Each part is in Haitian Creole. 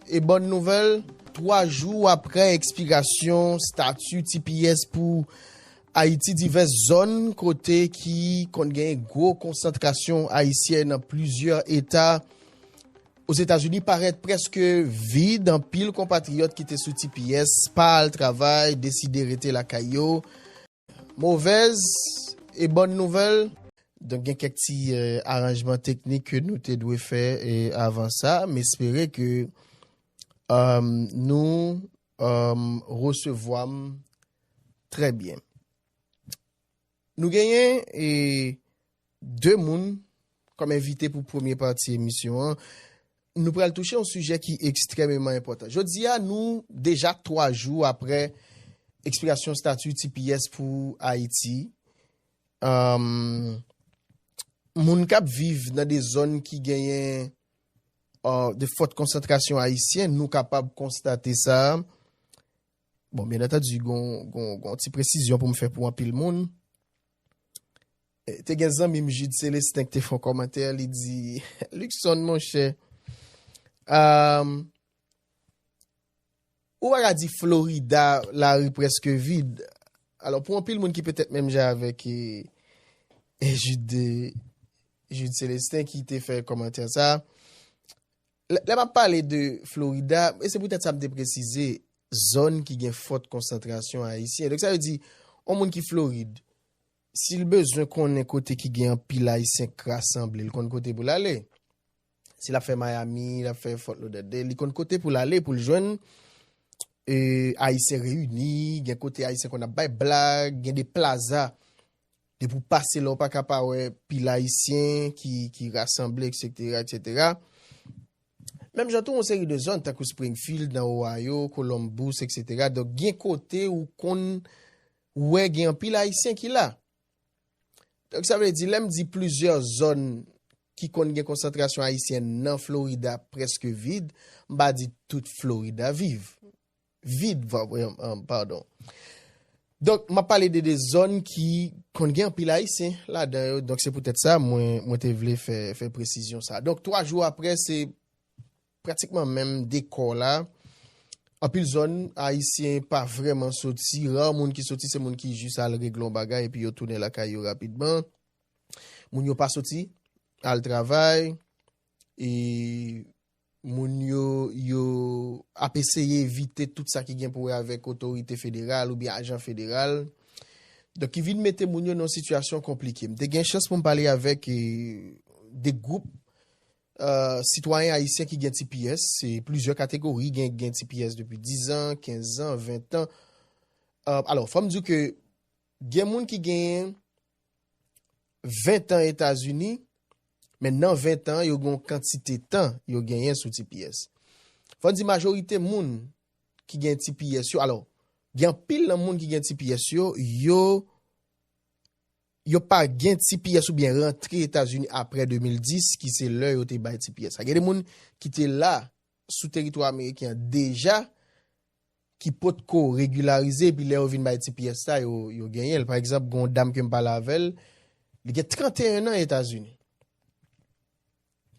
E bòn nouvèl, 3 jou aprè ekspirasyon stati tps pou Ayiti divès zòn kote ki konn gen gwo konsantrasyon ayisyen nan plizyè eta Ozetazini parèt prèske vid, anpil konpatriyòt ki te sou tps pa al travay deside rete lakay yo. Movèz e bòn nouvèl. Donk gen kèk ti aranjman teknik ke nou te dwe fè avan sa. M espere ke nou resevwa m trè byen. Nou genyen e. 2 moun kòm envite pou premye pati emisyon an. Nou pral touche yon sijè ki ekstrèmeman enpòtan. Jodi a nou deja 3 jou aprè ekspirasyon stati tps pou Ayiti. Moun k ap viv nan de zòn ki genyen de fòt konsantrasyon ayisyen nou kapab konstate sa. Bon, byen antadi gon ti presizyon pou m fè pou anpil moun. Te gen zanmi m Jude Celestin ki te fon kòmantè li di Luckson monchè um, ou pa ka di Florida la ri preske vid alò pou anpil moun ki petèt menm jan avèk e, e Jude Jude Celestin ki te fè kòmantè sa Lè m ap pale de Florida, e se poutèt sa m te presize zòn ki gen fòt konsantrasyon Ayisyen. Donk sa vle di, yon moun ki Florid, si l bezwen konnen kote ki gen anpil Ayisyen k rasanble, l konn kote pou l ale. Si l ap fè Miami, l ap fè Fort Lauderdale, li konn kote pou l ale pou l jwenn Ayisyen reyini, gen kote Ayisyen konn ap bay blag, gen de plaza. Depi w pase la w pa ka pa wè pil Ayisyen ki rasanble eksetera eksetera. Menm jan tou yon seri de zòn tankou Springfield nan Ohio, Columbus eksetera donk gen kote ou konn wè gen anpil Ayisyen ki la. Donk sa vle di lè m di plizyè zòn ki konn gen konsantrasyon Ayisyen nan Florida preske vid, m pa di tout Florida viv. vid, pardon. Donk, m ap pale de 2 zòn ki konn gen anpil Ayisyen ladan yo. Donk, se poutèt sa mwen te vle fè presizyon sa. Donk, 3 jou apre, se pratikman menm dekò la. Anpil zòn, Ayisyen pa vrèman soti. Ra moun ki soti, se moun ki jis al regle yon bagay epi yo tounen lakay yo rapidman. Moun yo pa soti al travay. E Moun yo yo ap eseye evite tout sa ki gen pou wè avèk otorite federal oubyen ajan federal. Donk ki vin mete moun yo nan yon sitiyasyon konplike. M te gen chans pou m pale avèk 2 gwoup sitwayen ayisyen ki gen tps. Se plizyè kategori, gen ki gen tps depi 10 an, 15 an, 20 an. Alò, fò m di w ke gen moun ki genyen 20 tan Etazini, men nan 20 tan yo gen yon kantite tan yo genyen sou tps. Fò n di majorite moun ki gen tps yo, alò, gen anpil nan moun ki gen tps yo, yo yo pa gen tps oubyen rantre Etazini apre 2010 ki se lè yo te bay tps la. Gen de moun ki te la sou teritwa ameriken an deja, ki potko regularize epi lè yo vin bay ti pyès la yo yo genyenl pa egzanp gon dam kem pale avèl li gen 31 nan etazini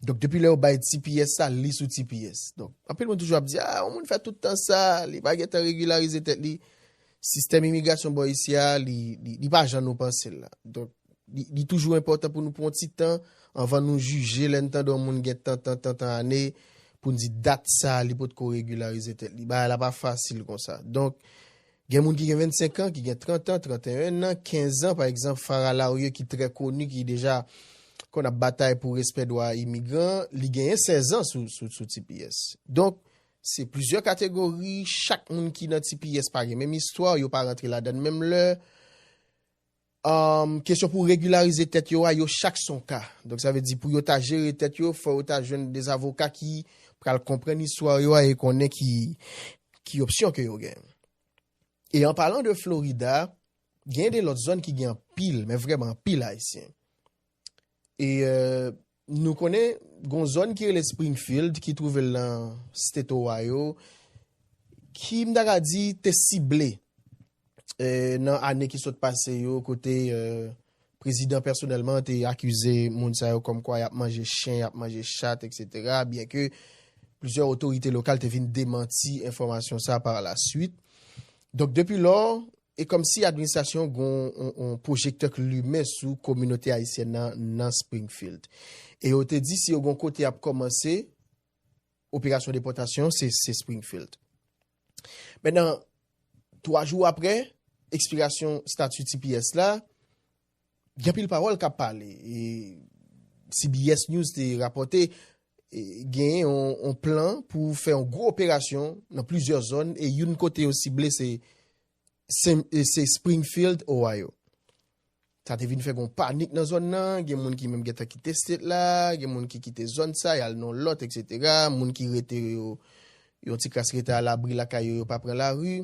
donk depi lè yo bay ti pyès la li sou ti pyès donk anpil moun toujou ap di ah yon moun fè tout tan sa li pa gentan regularize tèt li sistèm imigrasyon bò isi a li li pa jan nou pansel la donk Li toujou enpòtan pou nou pran yon ti tan anvan nou jije lè n tande yon moun gen tantan tantan ane pou n di dat sa a li potko regilarize tèt li. Bagay la pa fasil konsa. Donk, gen moun ki gen 25 an, ki gen 30 an, 31 nan, 15 an, pa egzanp Farah Laurieux ki trè koni, ki deja konn ap batay pou respè dwa imigran, li genyen 16 an sou tps. Donk, se plizyè kategori, chak moun ki nan tps pa gen menm istwa, yo pa rantre ladann menm lè. Kesyon pou regilarize tèt yo a, yo chak son ka. Donk sa vle di pou yo ta jere tèt yo, fò yo ta jwenn de zavoka ki pral konprann istwa yo a e konnen ki opsyon ke yo gen. E an palan de Florida, gen de lòt zòn ki gen anpil, men vrèman anpil ayisyen. E nou konnen gon zòn ki rele Springfield ki twouve l nan State Ohio ki m ta ka di te sible nan ane ki sot pase yo kote prezidan pèsonèlman te akize moun sa yo kòm kwa y ap manje chen, y ap manje chat etc. Byen ke plizyè otorite lokal te vin demanti enfòmasyon sa par la swit. Donk depi lò E kòmsi administrasyon an gen yon pwojektè k limen sou kominote ayisyèn nan nan Springfield. E yo te di si yo gen yon kote y ap kòmanse operasyon depòtasyon se se Springfield. Mennan, twa jou apre ekspirasyon stati tps la, Gen anpil pawòl kap pale. CBS News te rapòte gen yon plan pou fè yon gwo operasyon nan plizyè zòn e youn kote yo sible se Springfield, Ohio. Sa te vin fè gen yon panik nan zòn nan, gen moun ki menm gen tan kite state la, gen moun ki kite zòn sa yal nan yon lòt etc. Moun ki rete yo yon ti kras rete a labri lakay yo yo pa pran lari.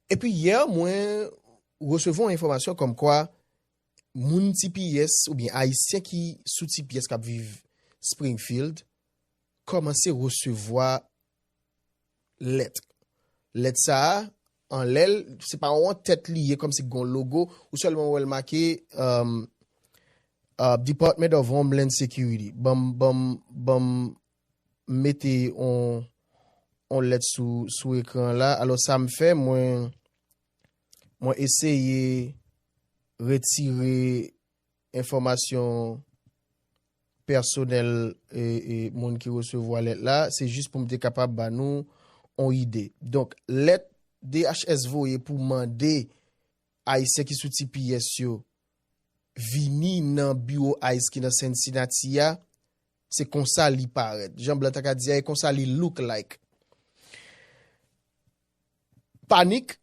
Epi yè mwen resevwa yon enfòmasyon kòm kwa moun TPS oubyen Ayisyen ki sou TPS k ap viv Springfield kòmanse resevwa lèt. Lèt sa a, anlè l, se pa yon tèt li ye kòmsi gen yon logo, ou sèlman wè l make Department of Homeland Security, ban m mete on on lèt sou sou ekran la alò sa m fè mwen mwen eseye retire enfòmasyon pèsonèl e e moun ki resevwa lèt la se jis pou m te kapab ba nou on ide donk lèt DHS voye pou mande ayisyen ki sou tps yo vini nan biwo ice ki nan Cincinnati a Se konsa li parèt. Jan blan ta ka di a e konsa li look like. Panik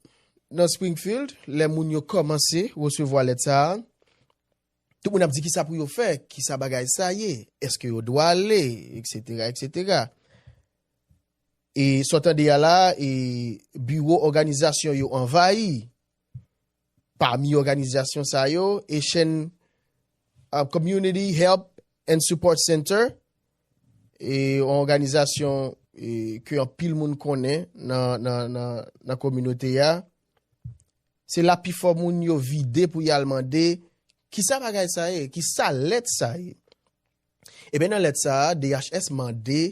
nan Springfield lè moun yo kòmanse resevwa lèt sa a. Tout moun ap di kisa pou yo fè, kisa bagay sa ye, eske yo dwa ale, eksetera, eksetera. E sa w tande a la, e biwo òganizasyon yo anvayi. Pami òganizasyon sa yo, Haitian Community Help and Support Center, yon òganizasyon ke anpil moun konnen nan kominote a, se la pifò moun yo vide pou y al mande, kisa bagay sa ye? Kisa lèt sa ye? Eben nan lèt sa a, DHS mande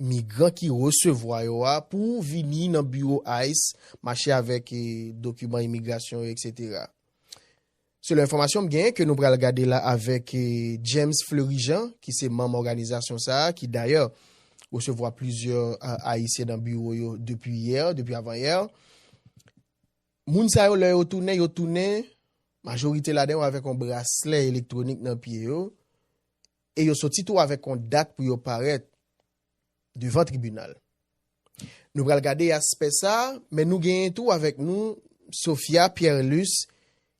migran ki resevwa yo a pou vini nan biwo ice mache avèk dokiman imigrasyon yo etc. Selon enfòmasyon m genyen ke nou pral gade la avèk James Fleury Jean ki se manm òganizasyon sa a ki dayè resevwa plizyè ayisyen nan biwo yo depi yè, depi avan yè. Moun sa yo lè yo tounen, yo tounen majorite ladan yo avèk yon braslè elektronik nan pye yo E yo soti tou avèk yon dat pou yo parèt devan tribinal. Nou pral gade aspè sa a, men nou genyen tou avèk nou Sophia Pierrelus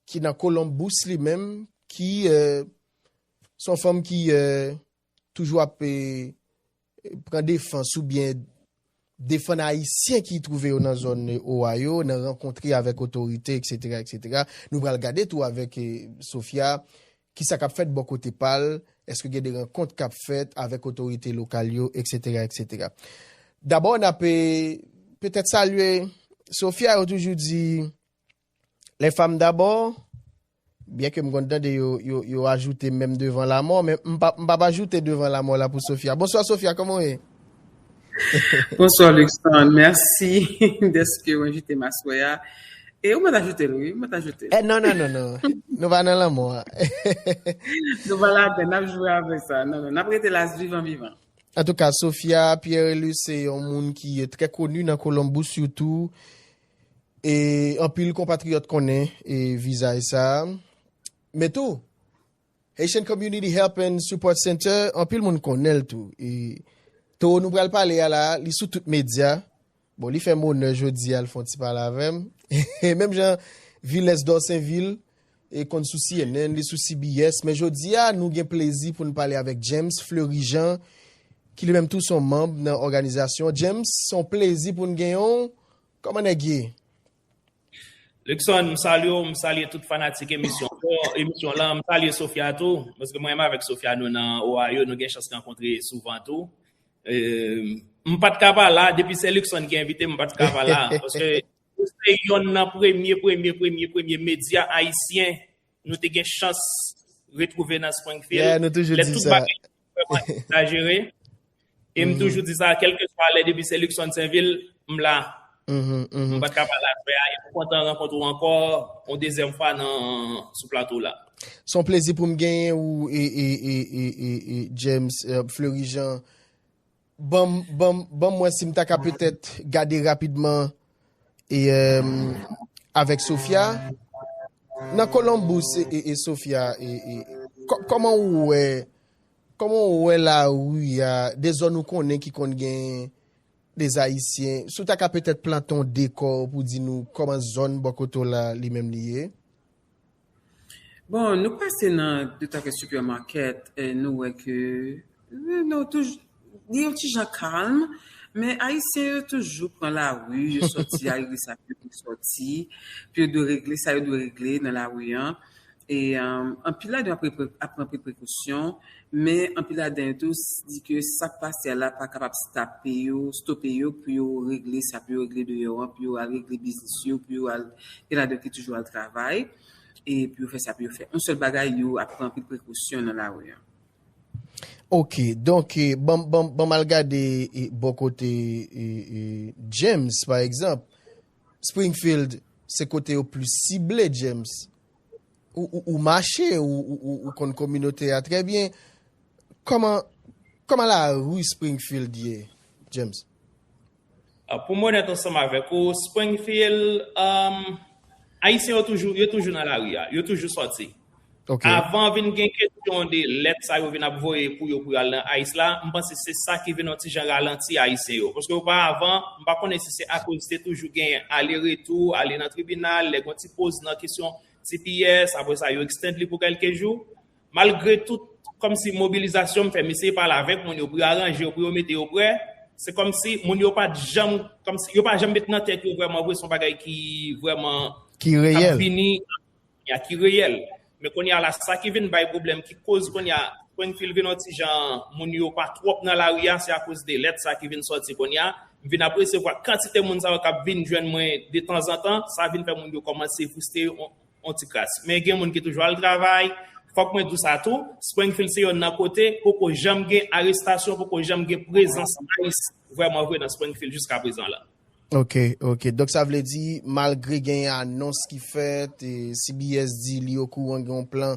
ki nan Columbus li menm ki se yon fanm ki toujou ap pran defans oubyen defann ayisyen ki twouve yo nan zòn oa yo, nan rankontre avèk otorite etc. Etc. Nou pral gade tou avèk Sophia kisa kap fèt bò kote pa l, èske gen de rankont kap fèt avèk otorite lokal yo etc. Etc. Dabò nape petèt salye Sophia yo toujou di. Les femmes d'abord, byen ke m konn tande yo, yo, yo ajoute menm devan lamò, men m pa, m pa p ajoute devan lamò la pou Sofia. Bonswa Sofia, kòman w ye? Bonswa Luckson, mèsi dèske w envite m aswè a. E ou mèt ajoute l wi, ou mèt ajoute l. Eh non, non, non, non, nou pa nan lanmò a. Nou pa ladan, n ap jwe avèk sa. Non, non, n ap rete la vivan vivan. Antouka, Sofia Pierrelus se yon moun ki trè koni nan Columbus sitou. E anpil konpatriyòt konnen e vizaj sa. Men tou, Haitian Community Help and Support Center, anpil moun konnen l tou. E Toro nou pral pale a la, li sou tout medya. Bon, li fè m onè jodi a l fon ti pale avè m. E menm jan Villes Dorsainville, E konn sou cnn, li sou CBS, men jodi a nou gen plezi pou n pale avèk James Fleury Jean ki li menm tou se yon manb nan òganizasyon. James, se yon plezi pou n genyen w. Kòman nèg ye? Luckson, m salye w, m salye tout fanatik emisyon w, emisyon lan, m salye Sofia tou, paske mwen menm avèk Sofia nou nan Ohio, nou gen chans rankontre souvan tou. M pa t ka pa la, depi se Luckson ki envite m, m pa t ka pa la, paske Ou se yonn nan premye premye premye premye medya ayisyen nou te gen chans retwouve nan Springfield. Yeah, nou toujou di sa. Lè tout bagay te vreman egzajere. E m toujou di sa, kèlkeswa lè depi se Luckson Sainville, m la. M pa t ka pa la avè a. E m kontan rankontre w ankò yon dezyèm fwa nan sou plato w la. Se yon plezi pou m genyen ou James Fleury Jean. Ban m wè si m ta ka petèt gade rapidman avèk Sofia. Nan Columbus e Sofia, kòman ou wè, kòman ou wè la ri a, de zòn ou konnen ki konn gen de Ayisyen, si w ta ka petèt plante yon dekò pou di nou kòman zòn bò kote w la li menm li ye? Bon, nou pase nan de ta ke supermarket, e nou wè ke nou toujou li yon ti jan kalm, men ayisyen yo toujou pran lari, yo sòti al gen sa yo dwe sòti, pou yo dwe regle sa yo dwe regle nan lari an, e anpil ladan yo ap pran prekosyon, Men anpil ladan yo tou di ke sak pase a la pa kapab stape yo, stope yo pou yo regle sa pou yo regle deyò an, pou yo al regle biznis yo, pou yo al, gen ladan yo ki toujou al travay, e pou yo fè sa pou yo fè. On sèl bagay yo ap pran anpil prekosyon nan lari an. Ok, donk banm banm banm al gade bò kote James pa egzanp, Springfield se kote yo plis sible James. Ou mache, ou konn kominote a trè byen. Kòman lari Springfield ye, James? Pou mwen onèt ansanm avèk ou, Springfield, Ayisyen yo toujou, yo toujou nan lari a. Yo toujou sòti. Avan vin gen kesyon de lèt sa yo vin ap voye pou yo pou yo al nan ice la, m panse se sa ki vin yon ti jan ralanti Ayisyen yo. Paske oparavan, m pa konnen si se akoz te toujou gen ale retou, ale nan tribinal, lè gen yon ti poz nan kesyon Tps, apre sa yo extend li pou kelke jou. Malgre tout kòmsi mobilizasyon m fè, m eseye pale avèk moun yo pou yo aranje yo, pou yo mete yo prè, se kòmsi moun yo pat janm, kòmsi yo pa janm met nan tèt yo vrèman vre se yon bagay ki vrèman kap vini, ya ki reyèl. Men kounye a la sa ki vin bay pwoblèm, ki koz kounye a Springfield vin yon ti jan, moun yo pa twòp nan lari a, se akoz de lèt sa ki vin sòti kounye a, M vin ap resevwa kantite moun sa yo k ap vin jwenn mwen detanzantan, sa vin fè moun yo kòmanse fristre yon ti kras. Men gen moun ki toujou al travay. Fòk mwen di w sa tou, Springfield se yonn nan kote poko janm gen arestasyon, poko janm gen prezans ice vrèman vre nan Springfield jiska prezan la. Ok, ok. Donk sa vle di, malgre genyen anons ki fèt, CBS di li okouran gen yon plan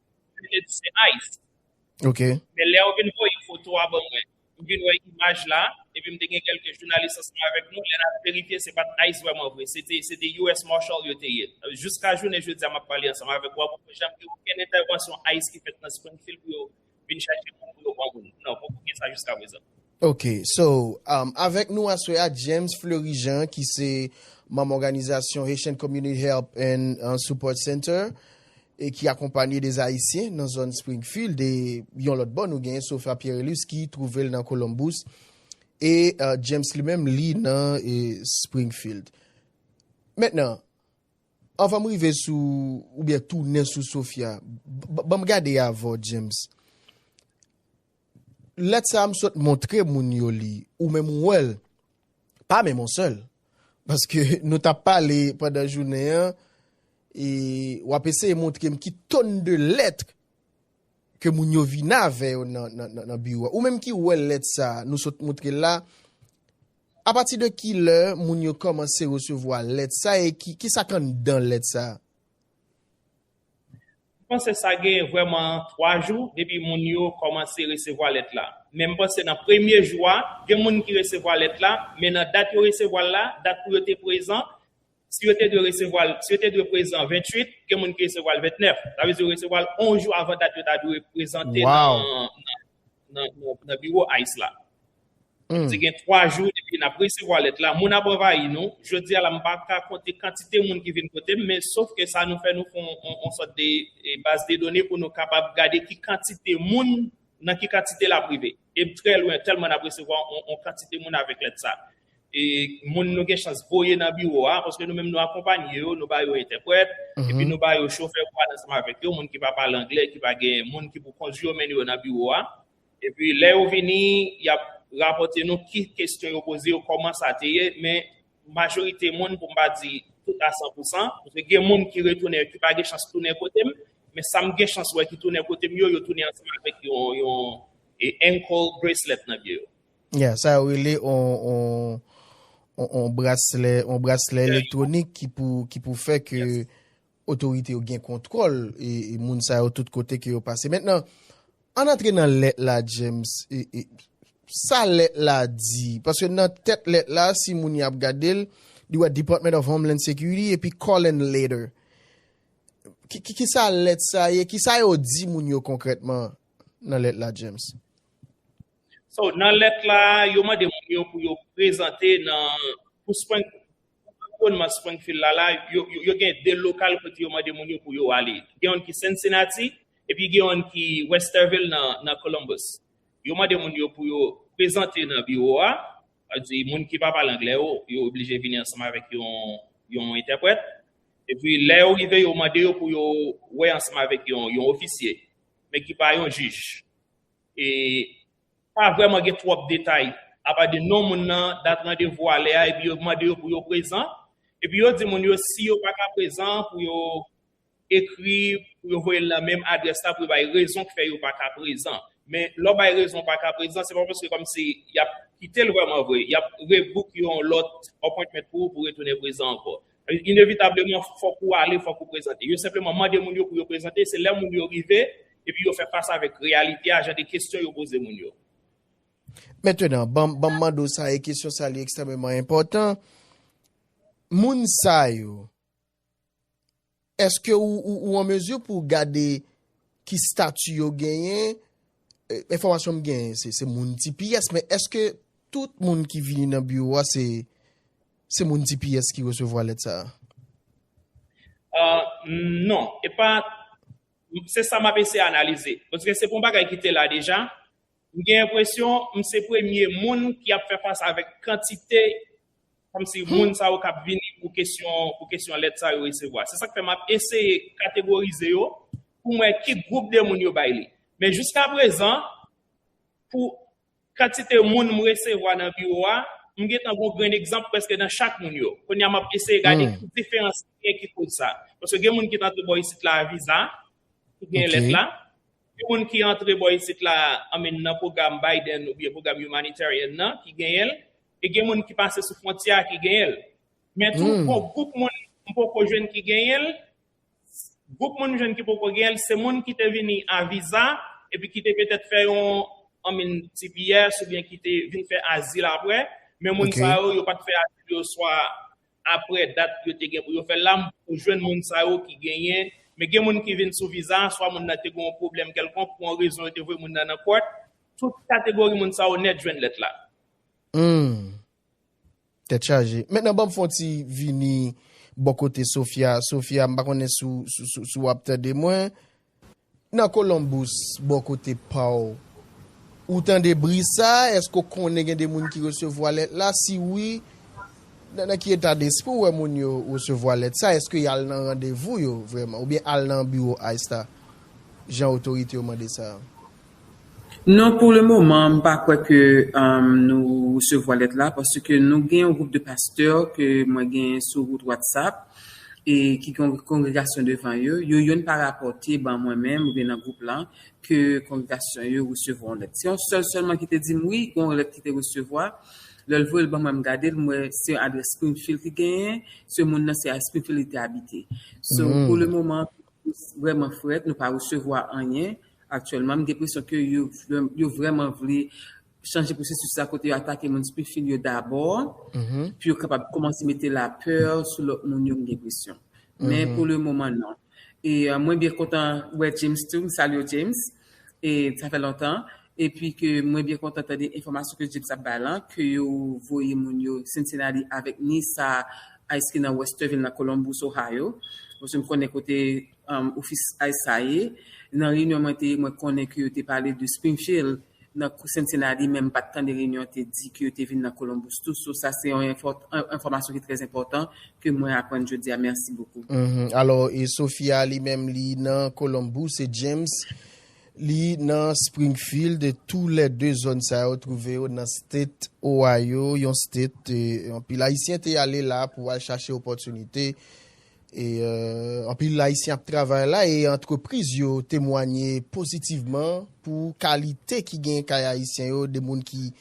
Li te di se ice. Ok. Men lè ou vin voye foto a ban mwen, m vin wè imaj la, epi m te gen kèlke jounalis ansanm avèk nou, lè n al verifye se pa t ice vrèman vre, se te se te US Marshal yo te ye. Jiska jounen jodi a m ap pale ansanm avèk ou a poko janm gen okenn entèvansyon ice ki fèt nan Springfield pou yo vin chache moun pou yo pran moun. Non, poko gen sa jiska prezan. Ok so avèk nou aswè a James Fleury Jean ki se manm òganizasyon Haitian Community Help and Support Center e ki akonpanye des Ayisyen nan zòn Springfield e yon lòt bò nou gen Sofia Pierrelus ki twouve l nan Columbus e James li menm li nan Springfield. Mentnan anvan m rive sou oubyen tounen sou Sofia ban m gade avè w James Lèt sa a m sot montre moun yo li, ou menm ou wè l, pa menm on sèl, paske nou t ap pale pandan jounen an e w ap eseye montre m ki tonn de lèt ke moun yo vini avè yo nan biwo a. Ou menm ki wè lèt sa a nou sot montre l la, apati de ki lè moun yo kòmanse resevwa lèt sa a e ki sa k anndan lèt sa a? M panse sa gen vrèman 3 jou depi moun yo kòmanse resevwa lèt la. Men m panse nan premye jou a, gen moun ki resevwa lèt la, men nan dat yo resevwa l la, dat pou yo te prezan, si yo te dwe resevwa l, si yo te dwe prezan 28, gen moun ki resevwa l 29. Sa vle di yo resevwa l 11 jou avan dat yo ta dwe prezante nan biwo ice la. Nou di gen 3 jou depi nap resevwa lèt la, moun ap anvayi nou, jodi a la m pa ka konte kantite moun ki vin kote m men sof ke sa nou fè nou fon on sòt de baz de done pou nou kapab gade ki kantite moun nan ki kantite lap rive e trè lwen tèlman nap resevwa on kantite moun avèk lèt sa e moun nou gen chans voye nan biwo a paske nou menm nou akonpanye yo, nou ba yo entèprèt epi nou ba yo chofè pou al ansanm avèk yo, moun ki pa pale anglè, ki pa gen moun ki pou kondwi yo mennen yo nan biwo a. Epi lè yo vini, y ap rapòte nou ki kesyon yo poze yo, kòman sa te ye. Men majorite moun, pou m pa di tout a san pou san, paske gen moun ki retounen yo ki pa gen chans tounen kote m, men sa m gen chans wè ki tounen kote m yo, yo tounen ansanm avèk yon ankle bracelet nan pye yo. Ya, sa yo rele yon braslè elektwonik ki pou fè ke. Otorite yo gen kontwòl moun sa yo tout kote ke yo pase. Mentnan, ann antre nan lèt la James. Sa lèt la di? Paske nan tèt lèt la, si moun y ap gade l, li wè Department of Homeland Security epi call and later. Ki sa lèt sa ye? Ki sa yo di moun yo konkrètman nan lèt la James? So, nan lèt la, yo mande moun yo pou yo prezante nan, pou swen, Nan anviwònman Springfield la la, yo gen 2 lokal kote yo mande moun yo pou yo ale. Gen youn ki Cincinnati, epi gen youn ki Westerville nan Columbus. Yo mande moun yo pou yo prezante nan biwo a, sa vle di moun ki pa pale anglè yo, yo oblije vini ansanm avèk yon entèprèt. Epi lè yo rive, yo mande yo pou yo wè ansanm avèk yon ofisye, men ki pa yon jij. Pa vrèman gen twòp detay, apa de non moun nan, dat randevou a, lè a epi yo mande yo pou yo prezan. Epi yo di moun yo si yo pa ka prezan pou yo ekri, pou yo voye l nan menm adrès la pou yo bay rezon ki fè yo pa ka prezan. Men lè w bay rezon w pa ka prezan se pa paske kòmsi y ap kite l vrèman vre. Y ap rebook yon lòt appointment pou ou pou retounen prezan ankò. Inevitableman, fòk ou ale, fòk ou prezante. Yo senpleman mande moun yo pou yo prezante, se lè moun yo rive, epi yo fè fas avèk reyalite a, jan de kesyon yo poze moun yo. Mentenan, ban m mande w sa, e kesyon sa li ekstrèmeman enpòtan, moun sa yo, Eske ou an mezi pou w gade ki stati yo genyen? Enfòmasyon m genyen se moun tps men eske tout moun ki vini nan biwo a se moun tps ki resevwa lèt sa a? Non, se sa m ap eseye analize. Paske se pa yon bagay ki te la deja. M gen enpresyon m se premye moun ki ap fè fas avèk kantite kòmsi moun sa yo k ap vini pou kesyon pou kesyon lèt sa yo resevwa. Se sa k fè m ap eseye kategorize yo pou m wè ki gwoup de moun yo bay li. Men jiskaprezan pou kantite moun m resevwa nan biwo a, m gen tan gen yon grenn egzanp prèske nan chak moun yo. Kounye a m ap eseye gade ki diferans ki gen ki koz sa. Paske gen moun ki t antre bò isit la a viza, ki gen lèt la. Yon moun ki antre bò isit la I mean nan pwogram Biden oubyen pwogram humanitarian nan ki genyen l e gen moun ki pase sou fwontyè a ki genyen l. Men tou yon gwoup moun m poko jwenn ki genyen l, gwoup moun m jwenn ki poko genyen l se moun ki te vini a viza epi ki te petèt fè yon I mean tps oubyen ki te vin fè azil aprè men moun sa yo yo pat fè azil yo swa aprè dat yo te gen pou yo fè l la ou jwenn moun sa yo ki genyen men gen moun ki vin sou viza a swa moun nan te gen yon pwoblèm kèlkonk pou yon rezon yo te voye moun nan nan kòt tout kategori moun sa yo nèt jwenn lèt la. Humm. Tèt chaje. Mentnan banm fon ti vini bò kote Sophia. Sophia m pa konnen si w ap tande mwen. Nan Columbus bò kote paw. Ou tande bri sa, eske ou konnen gen de moun ki resevwa lèt la, si wi, nan ki eta despri ou wè moun yo resevwa lèt sa, eske y al nan randevou yo vreman, oubyen al nan biwo ice la, jan otorite yo mande sa? Non pou le moman m pa kwè ke nou resevwa lèt la paske nou gen yon gwoup de pastè ke mwen gen sou wout whatsapp e ki gen yon kongregasyon devan yo, yo youn pa rapòte ban mwen menm oubyen nan gwoup lan ke kongregasyon yo resevwa yon lèt. Se yon sèl sèlman ki te di m wi gen yon lèt ki te resevwa, lè l voye l ban mwen m gade l m wè se yon adrès Springfield ki genyen, se moun nan se a Springfield li te abite. So pou le moman vrèman frèt nou pa resevwa anyen aktyèlman m gen presyon ke yo vrèman vle chanje pwosesis la kote yo atake moun spefil yo dabò pou yo kapab koumanse mete lapè sou lòt moun yo m gen presyon men pou le moman nan e mwen byen kontan wè James tou m salye w James. e sa fè lontan epi ke mwen byen kontan tande enfòmasyon ke James ap bay lan ke yo voye moun yo Cincinnati avèk ni sa ice ki nan Westerville nan Columbus Ohio paske m konnen kote ofis ice sa ye nan reyinyon mwen te ye mwen konnen ke yo te pale de Springfield nan Cincinnati men m pat tande reyinyon te di ke yo te vin nan Columbus tou so sa se yon enfòmasyon ki trè enpòtan ke mwen aprann jodi a merci beaucoup. Alò e Sofia li menm li nan Columbus e James li nan Springfield tou lè 2 zòn sa yo twouve yo nan state Ohio yon state anpil ayisyen te ale la pou al chache opòtinite e anpil ayisyen ap travay la e antrepriz yo temwanye pozitivman pou kalite ki gen kay ayisyen yo de moun ki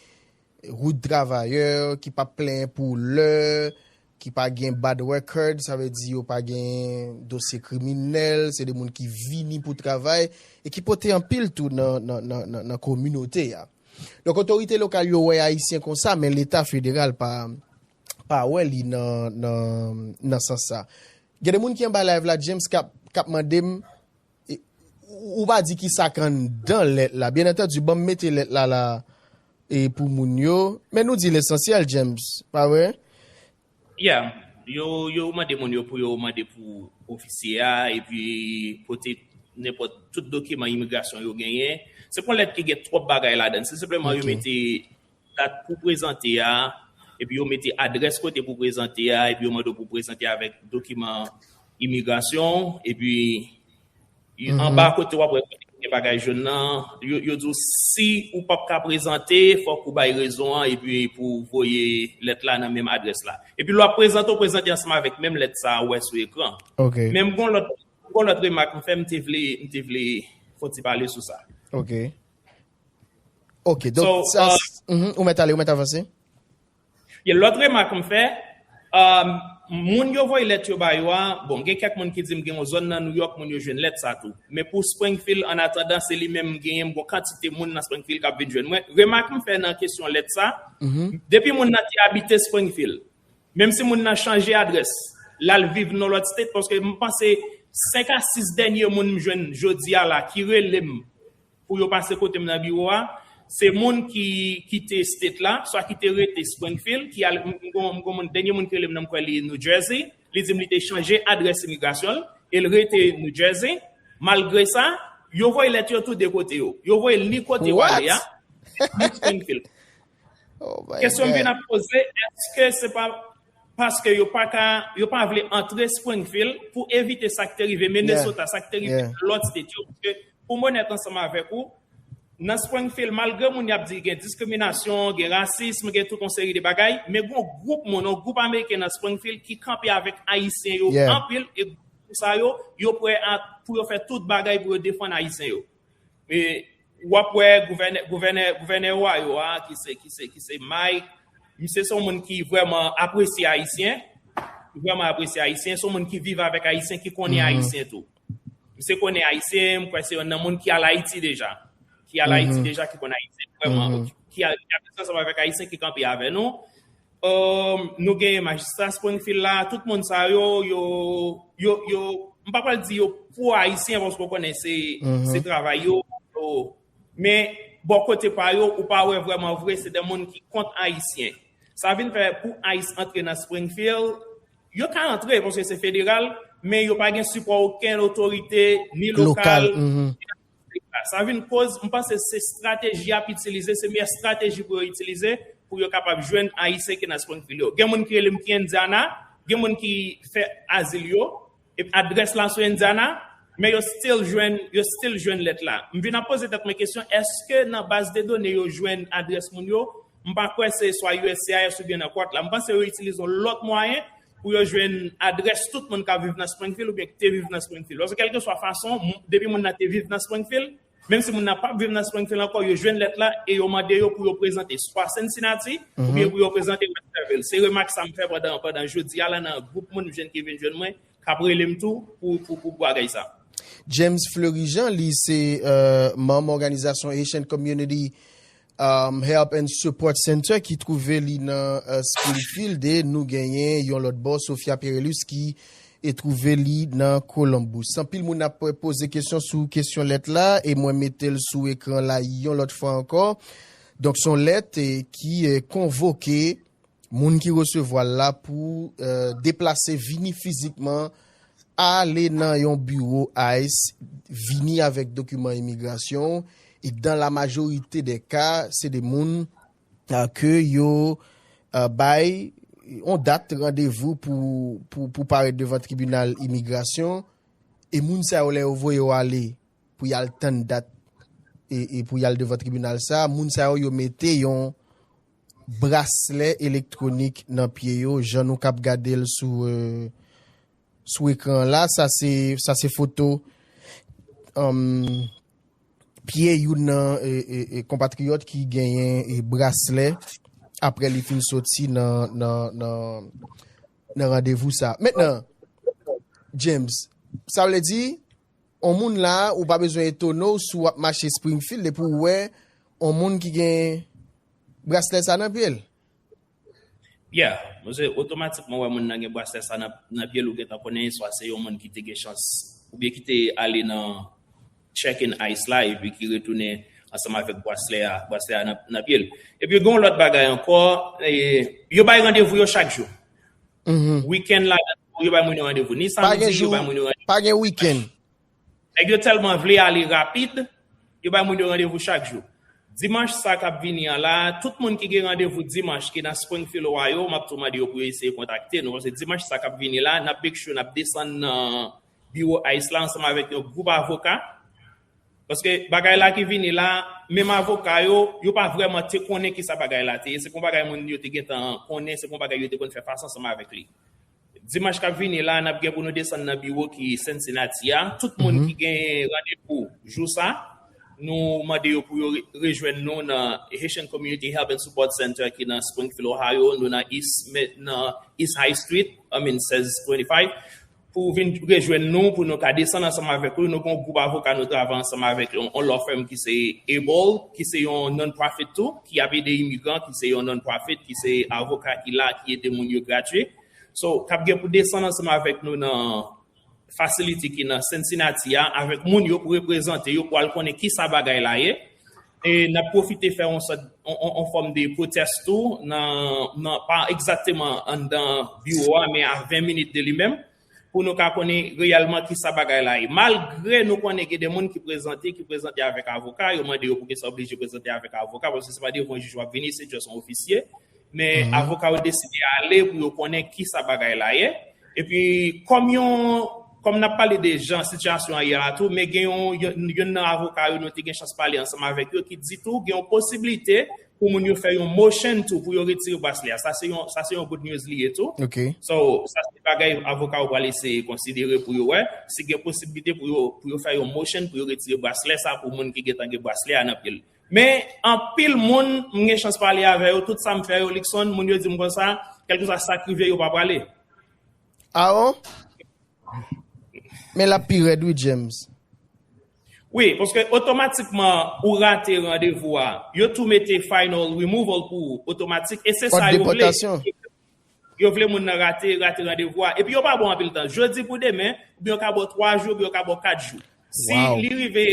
Rout travayè ki pa plenyen pou lè, ki pa gen bad record, sa vle di yo pa gen dosye kriminèl, se de moun ki vini pou travay e ki pote anpil tou nan kominote a. Donk otorite lokal yo wè Ayisyen konsa men leta federal pa wè li nan sans sa. Gen de moun ki anba live la James kap mande m. Ou pa di ki sak anndan lèt la. Byen antandi banm mete lèt la la e pou moun yo. Men nou di lesansyèl James, pa vre? Yeah. Yo yo mande moun yo pou yo mande pou ofisye a epi pote nenpòt tout dokiman imigrasyon yo genyen. Se pa yon lèt ki gen twòp bagay ladan. Se senpleman yo mete dat pou prezante a, epi yo mete adrès kote pou prezante a, epi yo mande w pou prezante avèk dokiman imigrasyon w, epi anba kote wap wè kote ki gen bagay joun nan, yo di w si ou pap ka prezante, fòk ou bay rezon an, epi pou w voye lèt la nan menm adrès la. Epi lè wap prezante, w prezante ansanm avèk menm lèt sa ou wè sou ekran. Men m gon lòt remak m fè, m te vle fon ti pale sou sa. Ok. Ok, donk So, sa, uh, mhm, ou mèt ale, ou mèt avanse. Ye lòt remak m fè, um, moun yo voye lèt yo ba yo a, bon, gen kèk moun ki di m gen yon zòn nan New York moun yo jwenn lèt sa tou. Men pou Springfield, an atandan, se li menm m genyen, m gon kantite moun nan Springfield k ap vin jwenn mwen. Remak m fè nan kesyon lèt sa, depi moun nan te abite Springfield, menm si moun nan chanje adrès, l al viv nan lòt state, paske m panse 5 a 6 dènye moun m jwenn jodi a la ki rele m pou yo pase kote m nan biwo a, se moun ki kite state la, swa ki te rete Springfield, ki al, m gon moun, dènye moun ki rele m nan m kwè li New Jersey, li di m li te chanje adrès imigrasyon l, e l rete New Jersey, malgre sa, yo voye lèt yo tou 2 kote yo, yo voye l ni kote ou ale a, ni Springfield. Kesyon m vin ap poze, èske se pa. paske yo pa ka, yo pa vle antre Springfield pou evite sa k te rive Minnesota, sa k te rive lòt state yo. Paske pou m onèt ansanm avèk ou, nan Springfield, malgre moun y ap di gen diskriminasyon, gen rasism, gen tout yon seri de bagay, men gen yon gwoup moun, yon gwoup Ameriken nan Springfield ki kanpe avèk Ayisyen yo anpil, e gwoup moun sa yo, yo prè a pou yo fè tout bagay pou yo defann Ayisyen yo. Ou ap wè gouvènè Ohio a ki se Mike, misye se yon moun ki vreman apresye Ayisyen, li vreman apresye Ayisyen, se yon moun ki viv avèk Ayisyen, ki konnen Ayisyen tou. Misye konnen Ayisyen, mwen kwè se yonn nan moun ki al Ayiti deja, ki al Ayiti deja, ki konnen Ayisyen vreman, ki al, ki al ansanm avèk Ayisyen ki kanpe avè nou. Nou genyen majistra Springfield la, tout moun sa yo, yo, yo, yo, m pa pral di yo pwo ayisyen paske w konnen se, se travay yo, men bò kote pa yo ou pa wè vrèman vre se de moun ki kont ayisyen. Sa vin fè pou ice antre nan Springfield, yo ka antre paske se federal, men yo pa gen sipò okenn otorite ni lokal, ni nasyonal. Sa vin koz, m panse se strateji y ap itilize, se meyè strateji pou yo itilize pou yo kapab jwenn Ayisyen ki nan Springfield yo. Gen moun ki rele m ki Indiana, gen moun ki fè azil yo, epi adrès la sou Indiana, men yo still jwenn, yo still jwenn lèt la. M vin ap poze tèt mwen kesyon, èske nan baz de done yo jwenn adrès moun yo? M pa kwè se swa uscis oubyen nan court la. M panse yo itilize yon lòt mwayen pou yo jwenn adrès tout moun k ap viv nan Springfield oubyen ki te viv nan Springfield. Oswa kèlkeswa fason, depi moun nan te viv nan Springfield, menm si moun nan pa p viv nan Springfield ankò, yo jwenn lèt la e yo mande yo pou yo prezante swa Cincinnati oubyen pou yo prezante Westerville. Se remak sa m fè pandan jodi a la nan gwoup moun m jwenn ki vin jwenn mwen, k ap rele m tou pou bagay sa. James Fleurijean, li se manm òganizasyon Haitian Community Help and Support Center ki twouve li nan Springfield e nou genyen yon lòt bò Sofia Perelus ki e twouve li nan Columbus. Anpil moun ap poze kesyon sou kesyon lèt la e mwen mete l sou ekran la yon lòt fwa ankò. Donk son lèt ki konvoke. Moun ki resevwa l la pou deplase vini fizikman ale nan yon biwo ice vini avèk dokiman imigrasyon w e dan la majorite dè ka se de moun ke yo bay yon dat randevou pou parèt devan tribinal imigrasyon e moun sa yo lè yo voye yo ale pou y al tann dat e pou y al devan tribinal sa moun sa yo yo mete yon braslè elektwonik nan pye yo jan nou kap gade l sou sou ekran an la sa se sa se foto pye youn nan konpatriyòt ki genyen braslè apre li fin soti nan nan nan randevou sa. Mètnan James sa vle di On moun la a, ou pa bezwen etone w si w ap mache Springfield epi w wè on moun ki gen braslè sa a nan pye l. Pierre, Mwen se otomatikman wè moun nan gen braslè sa a nan pye l, ou gentan konnen swa se yon moun ki te gen chans oubyen ki te ale nan check-in ice la epi ki retounen ansanm avèk braslè a, braslè a nan pye l. Epi gen yon lòt bagay ankò, yo bay randevou yo chak jou. Weekend la nan New York yo bay moun yo randevou ni samdi yo bay moun yo randevou. Pa gen weekend. Nèg yo tèlman vle ale rapid yo bay moun yo randevou chak jou. Dimanch sa kap vini an la tout moun ki gen randevou dimanch ki nan Springfield Ohio map tou mande yo pou yo eseye kontakte nou paske dimanch sa kap vini la nap make sure nap desann nan biwo ice la ansanm avèk yon gwoup avoka Paske bagay la ki vini la, menm avoka yo, yo pa vrèman te konnen ki sa bagay la te ye. Se pa yon bagay moun yo te gen tan konnen, se pa yon bagay yo te konn fè fas ansanm avèk li. Dimanch k ap vini la, n ap gen pou nou desann nan biwo ki Cincinnati a. Tout moun ki gen randevou jou sa, nou mande yo pou yo rejwenn nou nan Haitian Community Help and Support Center ki nan Springfield, Ohio. Nou nan East High Street, I mean 1625. pou ou vin rejwenn nou pou nou ka desann ansanm avèk ou. Nou gen yon gwoup avoka nou travay ansanm avèk yon law firm ki se Able ki se yon non-profit tou ki ap ede imigran ki se yon non-profit ki se avoka ki la ki ede moun yo gradye. So, k ap gen pou desann ansanm avèk nou nan facility ki nan Cincinnati a avèk moun yo pou reprezante yo pou al konnen kisa bagay la ye. E n ap pwofite fè yon sòt, yon fòm de pwotès tou nan, pa egzakteman anndan biwo a men a 20 minit de li menm, pou nou ka konnen reyèlman ki sa bagay la ye. Malgre nou konnen gen de moun ki prezante, ki prezante avèk avoka, yo mande yo poukisa yo oblije prezante avèk avoka, paske se pa devan jij w ap vini, se just yon ofisye Men avoka yo deside ale pou yo konnen ki sa bagay la ye. E pi kòm yon, kòm n ap pale de jan sitiyasyon an ye la tou, men gen yon, youn nan avoka yo nou te gen chans pale ansanm avèk yo ki di tou gen yon posiblite pou moun yo fè yon motion tou pou yo retire braslè a. Sa se yon, sa se yon good news li ye tou. So, sa se bagay avoka yo pral eseye konsidere pou yo wè si gen posiblite pou yo, pou yo fè yon motion pou yo retire braslè sa pou moun ki gentan gen braslè a nan pye l. Men, anpil moun m gen chans pale avè yo, tout sa m fè yo, Luckson, moun yo di m konsa, kèlkeswa sa k rive yo pa prale. Aaron, Men l ap pi rèd wi, James. Wi, paske otomatikman ou rate randevou a, yo tou mete final removal pou ou otomatik e se sa yo vle. Òd depòtasyon. Yo vle moun nan rate rate randevou a. Epi yo pa ba w anpil tan. Jodi pou demen, oubyen yo ka ba w 3 jou, oubyen yo ka ba w 4 jou. Si li rive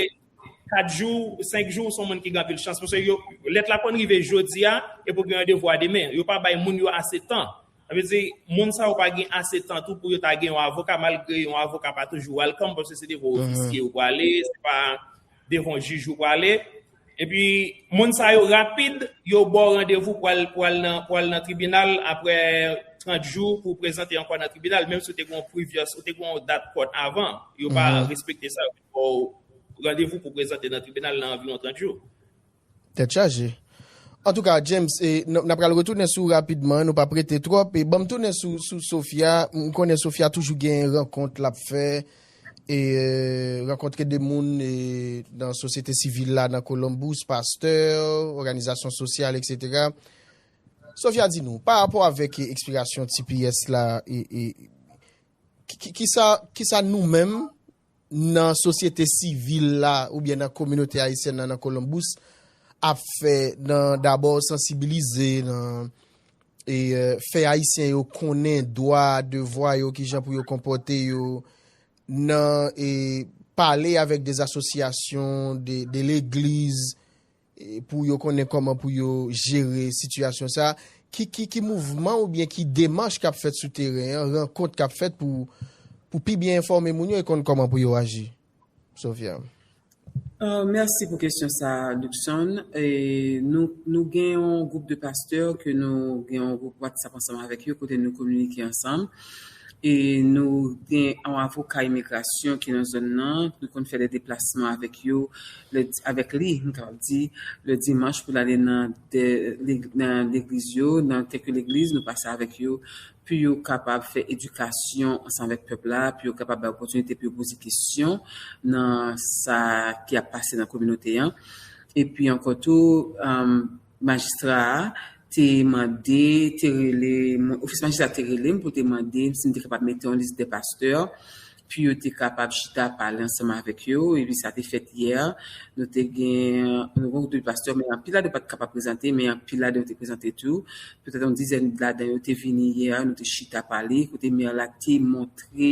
4 jou, 5 jou, ou se yon moun ki gen anpil chans. Paske yo, lèt la konn rive jodi a, epi ou gen randevou a demen. Yo pa bay moun yo ase tan. Sa vle di, moun sa yo pa gen ase tan tou pou yo ta gen yon avoka, malgre yon avoka pa toujou welcome, paske se devan yon ofisye ou prale, se pa devan yon jij ou prale. Epi moun sa yo rapid yo baw randevou pou al pou al nan pou al nan tribinal aprè 30 jou pou prezante ankò nan tribinal menm si ou te gen yon previous ou te gen yon dat kòt avan yo pa respekte sa yo vin baw randevou pou prezante nan tribinal nan anviwon 30 jou. Tèt chaje. Antouka James e n ap pral retounen sou ou rapidman nou pap rete twòp e banm tounen sou sou Sophia m konnen Sophia toujou gen rankont l ap fè E rankontre 2 moun nan sosyete sivil la nan Columbus, pastè, òganizasyon sosyal etc. Sofia di nou, pa rapò avèk ekspirasyon tps la, ki sa nou menm nan sosyete sivil la oubyen nan kominote ayisyen nan nan Columbus ap fè nan dabò sansibilize nan e fè ayisyen yo konnen dwa, devwa yo, ki jan pou yo konpòte yo nan e pale avèk de asosyasyon, de legliz pou yo konnen kòman pou yo jere sitiyasyon sa, ki mouvman oubyen ki demanch kap fèt sou teren, rankont kap fèt pou pi byen enfòme moun yo e konn kòman pou yo aji? Sophia. Mèsi pou kesyon sa Luckson. Nou gen yon gwoup de pastè ke nou gen yon gwoup WhatsApp ansanm avèk yo kote nou kominike ansanm. E nou gen yon avoka imigrasyon ki nan zòn nan, nou konn fè de deplasman avèk yo, avèk li m kapab di, le dimanch pou l ale nan legliz yo, nan kèk legliz nou pase avèk yo. pou yo kapab fè edikasyon ansanm avèk pèp la, pou yo kapab bay opòtinite pou yo poze kesyon nan sa ki ap pase nan kominote an. Epi ankò tou, majistra a te mande, te rele, ofis majistra te rele m pou te mande m si m te kapab mete yon lis dè pastè pou yo te kapab chita pale ansanm avèk yo epi sa te fèt yè nou te gen nou gen de pastè men anpil ladan yo pat kapab prezante men anpil ladan yo te prezante tou petèt yon dizèn ladan yo te vini yè nou te chita pale kote mè la te montre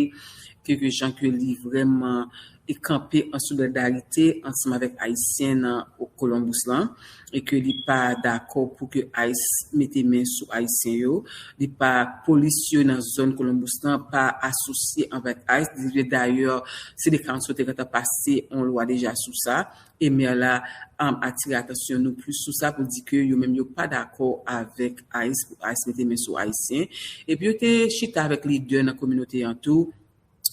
ke ke jan ke li vrèman e kanpe an solidarite ansanm avèk ayisyen nan Columbus lan. e ke li pa dakò pou ke ice mete men sou ayisyen yo, li pa polis yo nan zòn Columbus lan pa asosye avèk ice, dayè City Council te gentan pase yon lwa deja sou sa e Maire la atire atansyon nou plis sou sa pou di ke yo menm yo pa dakò avèk ice pou ice mete men sou ayisyen epi yo te chita avèk lidè nan kominote an tou.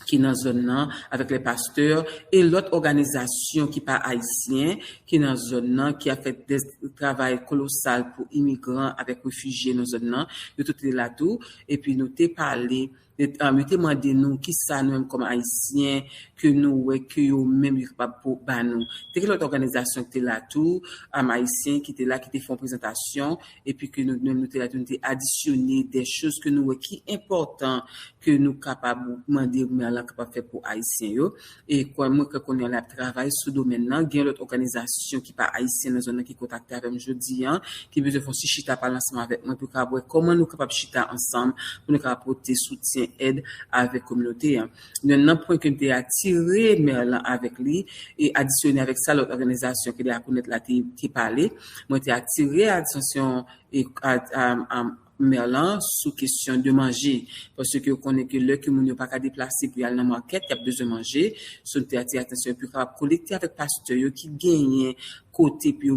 ki nan zòn nan, avèk lè pastè e lòt òganizasyon ki pa ayisyen ki nan zòn nan ki ap fè dè travay kolosal pou imigran avèk refijye nan zòn nan, yo tout te la tou epi nou te pale, yo te mande nou kisa nou menm kòm ayisyen ke nou wè ke yo menm yo kapab pou ba nou. Te gen lòt òganizasyon ki te la tou, ayisyen ki te la ki te fè yon prezantasyon e pi ke nou menm nou te la tou nou te adisyone dè choz ke nou wè ki enpòtan ke nou kapab mande mè lan kapab fè pou ayisyen yo e kwè mwen ke kounye a la ap travay sou domèn lan gen lòt òganizasyon ki pa ayisyen nan zòn lan ki kontakte avèm jodi an ki bezwen fon si chita pale ansanm avèk mwen pou kapab wè kòman nou kapab chita ansanm pou nou kapab pote soutyen èd avèk kominote an. Yon nan pwen ke m te atire Mère lan avèk li e adisyone avèk sa lòt òganizasyon ki la akounèt la te pale, mwen te atire atansyon Mère lan sou kesyon de manje. Paske yo konnen ke lè ke moun yo pa ka deplase pou y al nan market, y ap bezwen manje. So m te atire atansyon pou yo kapab kolekte avèk pastè yo ki genyen kote pou yo.